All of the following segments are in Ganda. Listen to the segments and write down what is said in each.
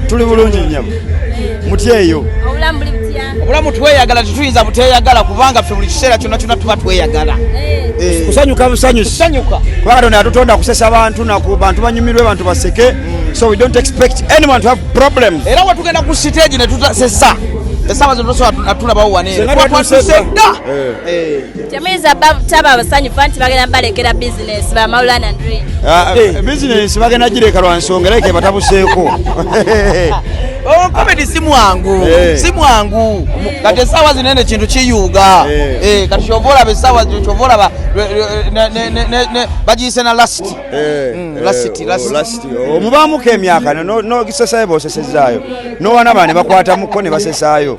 tuli bulungi nyabo mutyeyo obulamu tweyagala tetuyinza buteyagala kubanga ffe buli kiseera kyonna kyonna tuba tweyagala eh. Eh. kusanyuka busanyusanyuka kuba katonda yatutonda kusesa abantu naku bantu banyumirwe bantu baseke mm. so we don't expect anyone to have problems era wetugenda ku siteegi netusesa esaawa zino tosobola natulabawo waneeatuse dda eh. Temuyinza taba abasanyufu anti bagenda balekera bizinesi bamawulana ndri ah, eh, bizinesi bagenda gireka lwa nsonga era kebatabuseeko oh, komedi si mwangu eh. si mwangu kati esaawa zino ene kintu kiyuuga eh. kati kyova olaba esaawa kyova olaba bagiyise na last mm, oh, omubaamuko emyaka nogisesaayo bosesezaayo nowanaba ne bakwatamuko ne basesaayo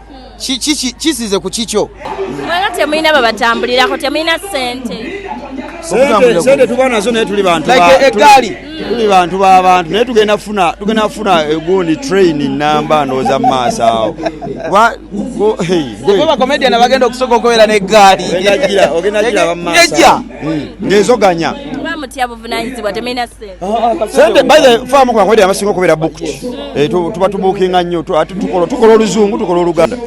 kisize ku kikyo mwena temulina babatambulirako temulina sente sente tuba nazo naye tuli bantu egaali mm. tuli bantu babantu naye tugenda kufuna tugenda kufuna egundi train namba ndowooza mu maaso awo bakomedian bagenda okusooka okubeera n'eggaali ngezoganya sente bafamukubakwedera basinga okubeera bukti eh, tuba tubukinga nnyo tukola oluzungu tukola oluganda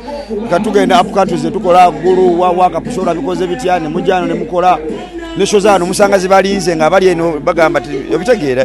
nga tugenda apcountries netukola gulu wawakapusola bikoze bitya nemujano nemukola nesho zano musanga zibalinze nga abali eno bagamba ti obitegeera